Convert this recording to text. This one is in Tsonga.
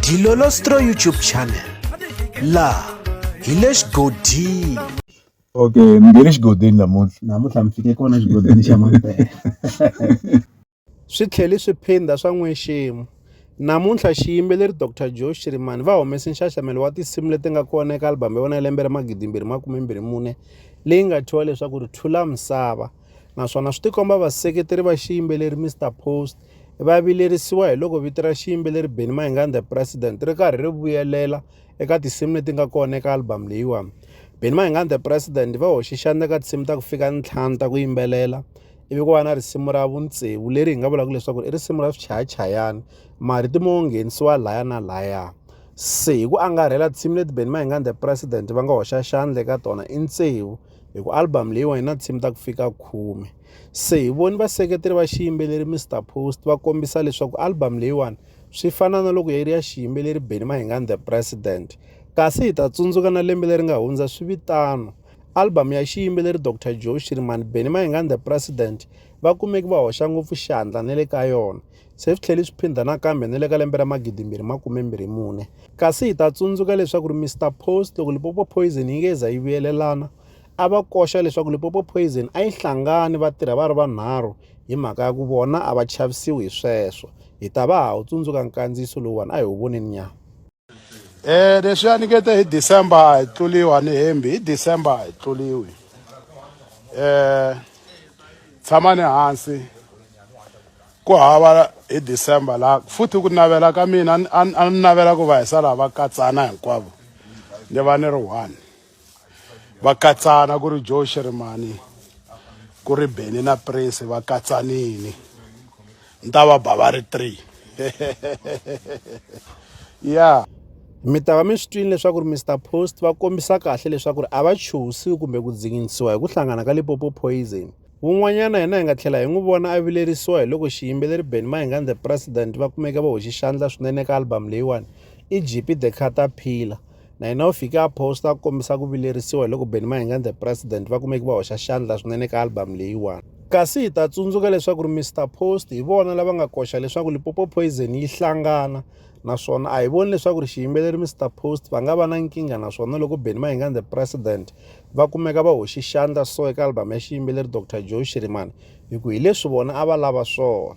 Dilolostro YouTube channel la hi le xigodini okay mi nge le xigodini namuntlha namuntlha mi fike kona xigodini xa mampela swi tlheli swi phinda swa n'weximo namuntlha xiyimbeleri dr joe shirimani va humese nxaxamelo wa tinsimu leti nga kona eka albhamu ya vona ya lembe ra magidimbirhi makumembirhi mune leyi nga thyiwa leswaku ri thula misava naswona swi tikomba vaseketeri va xiyimbeleri Mr Post va vilerisiwa hi loko vito ra xiyimbeleri Benny Mayengani the President ri karhi ri vuyelela eka tinsimu leti nga kona eka album leyiwani. Benny Mayengani the President va hoxe xandla ka tinsimu ta ku fika ntlhanu ta ku yimbelela ivi ku va na risimu ra vuntsevu leri hi nga vulaka leswaku i risimu ra swichayachayana marito mo nghenisiwa laya na laya se hi ku angarhela tinsimu leti Benny Mayengani the President va nga hoxa xandla eka tona i ntsevu hi ku album leyiwani na tinsimu ta ku fika khume se hi voni vaseketeri va xiyimbeleri mr post va kombisa leswaku album leyiwani swi fana na loko yi ri ya xiyimbeleri beni mahingani the president kasi hi ta tsundzuka na lembe leri nga hundza swi vitano album ya xiyimbeleri dr joe shirimani beni mahingani the president va kumeki va hoxa ngopfu xandla na le ka yona Se swi tlhele swi phindha nakambe ni le ka lembe ra magidimbirhi makumembirhi mune. Kasi hi ta tsundzuka leswaku ri Mister Post loko Limpopo Poison yi nge za yi vuyelelana, a va koxa leswaku Limpopo Poison a yi hlangani va tirha va ri vanharhu hi mhaka ya ku vona a va chavisiwi hi sweswo. Hi ta va ha wu tsundzuka nkandziyiso lowuwani a hi wu voneni nyana. Eh leswi a ni kete hi December hi tluliwa ni hembi hi December hi tluliwi eh tshama ni hansi ku hava hi December la futhi ku navela ka mina a ni navela ku va hi sala va katsana hinkwavo ni va ni ri one va katsana ku ri joe shirimani ku ri beni na prince va katsanini ni ta va ba va ri three ya mi ta va mi swi twile leswaku ri mr post va kombisa kahle leswaku ri a va chuhisiwi kumbe ku dzinginisiwa hi ku hlangana ka lipopo poison wun'wanyana hina hi nga tlhela hi n'wi vona a vilerisiwa hi loko xiyimbeleri ben mahingani the president va kumeke va hoxi xandla swinene ka album leyiwani i gp the caterpillar na yena u fike a posta ku kombisa ku vilerisiwa hi loko Benny Mahingani the president va kumeki va hoxa xandla swinene ka album leyiwani kasi hi ta tsundzuka leswaku ri Mr Post hi vona lava nga koxa leswaku Lipopo Poison yi hlangana naswona a hi voni leswaku ri xiyimbeleri Mr Post va nga va na nkingha naswona loko Benny Mahingani the president va kumeka va hoxi xandla so eka album ya xiyimbeleri Dr Joe Shirimani hi ku hi leswi vona a va lava swona